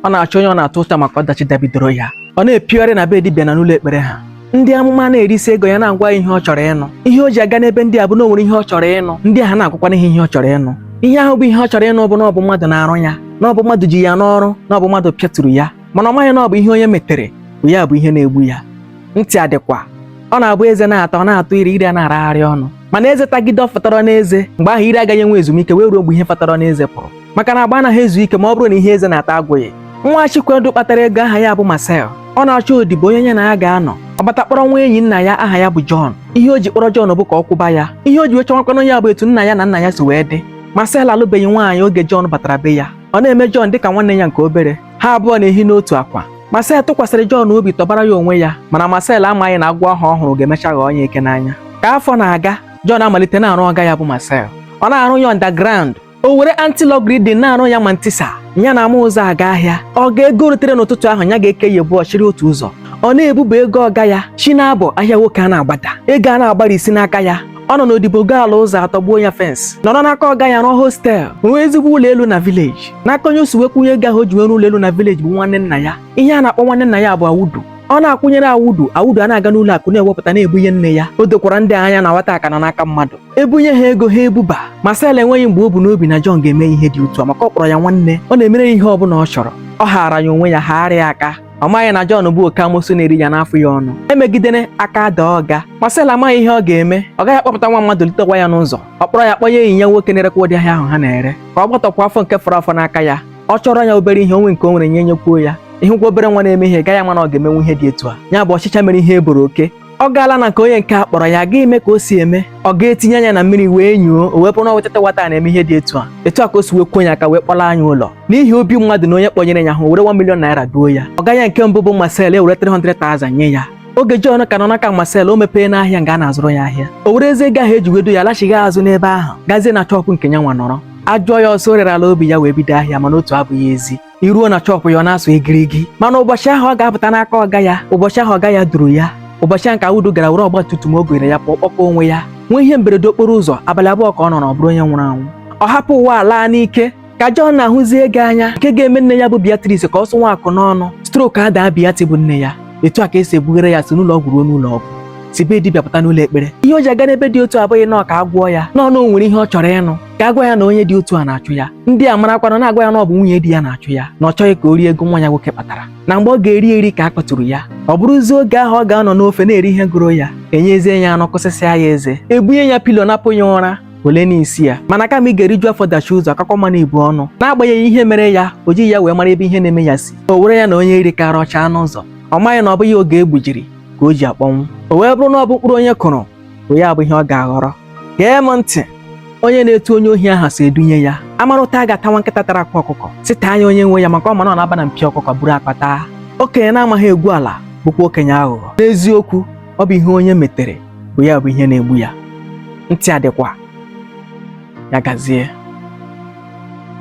ọ na-achọ onye ọ na-ata ụta maka ọdachi dabidoro ya ọ na-epigharị na be dibịa na n'ụlọ ekpere ha ndị amụma na-erisi ego ya na-agwa ya ihe ọ chọrọ ịnụ ihe o ji aga n'ebe ndị a bụ na o nwere ihe ọ chọrọ ịnụ ndị ahụ na-agwakwanụ ya ihe ọ chọrọ ịnụ ihe ahụ bụ ihe ọ chọrọ ịnụ bụ na ọ bụ mmadụ na-arụ ya na ọ bụ mmadụ ji ya n'ọrụ na ọ bụ mmadụ pịaturu ya mana ọ maghị na ọ bụ ihe onye metere bụ ya bụ ihe na-egbu ya ntị adịkwa ọ na-abụ eze na-ata ọ na-atọ ire ire a na-aragharị ọnụ mana eze tagide ọ fọtọrọ n'eze mgbe ahụ ire agaghị enwe ezumike wee ruo mgbe ihe fọtọrọ n'eze pụrụ maka na agba anaghị ezu ike ma ọ bụrụ na ihe eze na-ata agwụghị nwa Chikwendu kpatara ego aha ya bụ Marcel ọ na-achọ odibo onye ya na ya ga-anọ ọ bata kpọrọ nwa enyi nna ya aha ya bụ John ihe o ji kpọrọ John bụ ka ọ kwụba ya ihe o ji wee chọwakwanụ ya bụ etu nna ya na nna ya si wee dị Marcel alụbeghị nwaanyị oge John batara be ya ọ na-eme John dịka nwanne ya nke obere ha abụọ na-ehi n'otu akwa Marcel tụkwasịrị John obi tọbara ya onwe ya mana Marcel amaghị na agwọ ahụ ọ hụrụ ga-emecha ghọọ ya eke n'anya ka afọ na-aga John amalite na-arụ ọga ya bụ Marcel ọ na-arụ ya underground o were antilogarithm na-arụ ya mantissa ya na-ama ụzọ aga ahịa ọ gaa ego o retere n'ụtụtụ ahụ ya ga-eke ya abụọ chịrị otu ụzọ ọ na-ebuba ego ọga ya chi na-abọ ahịa nwoke a na-agbada ego a na-agbara isi n'aka ya ọ nọ n'odibo goo ala ụzọ atọ gbuo ya fence nọrọ n'aka ọga ya rụọ hostel rụọ ezigbo ụlọ elu na village n'aka onye o si wee kwụnye ego ahụ o ji nwere ụlọ elu na village bụ nwanne nna ya ihe a na-akpọ nwanne nna ya bụ Audu ọ na-akwụnyere Audu Audu a na-aga n'ụlọ akụ na-ewepụta na-ebunye nne ya o dokwara ndị a anya na nwata a ka nọ n'aka mmadụ ebunye ha ego ha ebuba Marcel enweghị mgbe o bu n'obi na John ga-eme ihe dị otu a maka ọ kpọrọ ya nwanne ọ na-emere ya ihe ọ bụla ọ chọrọ ọ haara ya onwe ya haara ya aka ọ maghị na John bụ oke amosu na-eri ya na-afụ ya ọnụ emegidere aka ada ọga Marcel amaghị ihe ọ ga-eme ọ gaghị akpọpụta nwa mmadụ litekwa ya n'ụzọ ọ kpọrọ ya kpọnye enyi ya nwoke na-erekwa ụdị ahịa ahụ ha na-ere ka ọ gbatọkwa afọ nke fọrọ afọ n'aka ya ọ chọrọ ya obere ihe o nwe nke o nwere nye nyekwuo ya ị hụkwa obere nwa na-eme ihe gaghị ama na ọ ga-emenwu ihe dị etu a ya bụ ọchịcha mere ihe e boro oke ọ gaala na nke onye nke a kpọrọ ya gaa ime ka o si eme ọga etinye anya na mmiri wee nyoo o wee bụrụ na wetata nwata na-eme ihe dị etu a etu a ka o si wee kwuo ya aka wee kpọlaa ya ụlọ n'ihi obi mmadụ na onye kpọnyere ya ahụ o were 1 million naira duo ya ọga ya nke mbụ bụ Marcel ewere 300,000 nye ya oge John ka nọ n'aka Marcel o mepeena ahịa nga a na-azụrụ ya ahịa o werezie ego ahụ e ji wee duo ya alachighị azụ n'ebe ahụ gazie na shop nke ya nwa nọrọ a jụọ ya ọ sị o rerala obi ya wee bido ahịa mana otu abụghị ezi i ruo na shop ya ọ na-asụ igirigi mana ụbọchị ahụ ọ ga-apụta n'aka ọga ya ụbọchị ahụ ọga ya duru ya ụbọchị ahụ ka Audu gara were ọgba tum tum o gonyere ya pụọ kpọkọ onwe ya nwee ihe mberede okporo ụzọ abalị abụọ ka ọ nọrọ ọ bụrụ onye nwụrụ anwụ ọ hapụ ụwa a laa n'ike ka John na-ahụzi ego anya nke ga-eme nne ya bụ Beatrice ka ọ sụ nwa akụ n'ọnụ stroke adaa Beatrice bụ nne ya etu a ka e si ebughari ya si n'ụlọ ọgwụ ruo n'ụlọ ọgwụ si be dibịa pụta n'ụlọ ekpere ihe o ji aga n'ebe dị otu a abụghị na ọ ka a gwọọ ya no no o nwere ihe ọ chọrọ ịnụ ka agwa ya na onye dị otu a na-achụ ya ndị a marakwana na-agwa ya na ọ bụ nwunye di ya na-achụ ya na ọ chọghị ka o rie ego nwa ya nwoke kpatara na mgbe ọ ga-eri eri ka a kpaturu ya ọ bụrụzie oge ahụ ọ ga-anọ n'ofe na-eri ihe gụrụ ya enyezie ya anụ kụsịsịa ya eze ebunye ya pilo napụ ya ụra ole n'isi ya mana kama ị ga-eriju afọ dachie ụzọ ọ kakwa mma n'ibu ọnụ n'agbanyeghị ihe mere ya o jighị ya wee mara ebe ihe na-eme ya si o were ya na onye iri kara ọcha anụ ụzọ ọ maghị na ọ bụghị oge egbujiri ka o ji akpọnwụ o wee bụrụ na ọ bụ mkpụrụ onye kụrụ bụ ya bụ ihe ọ ga-aghọrọ gee m ntị onye na-etu onye ohi aha si edunye ya a mara ụta a ga-ata nwa nkịta tara akwa ọkụkọ sị taa ya onye nwe ya maka ọ ma na ọ na-aba na mpio ọkụkọ buru akwa taa okenye na-amaghị egwu ala bụkwa okenye aghụghọ n'eziokwu ọ bụ ihe onye metere bụ ya bụ ihe na-egbu ya ntị adịkwa ya gazie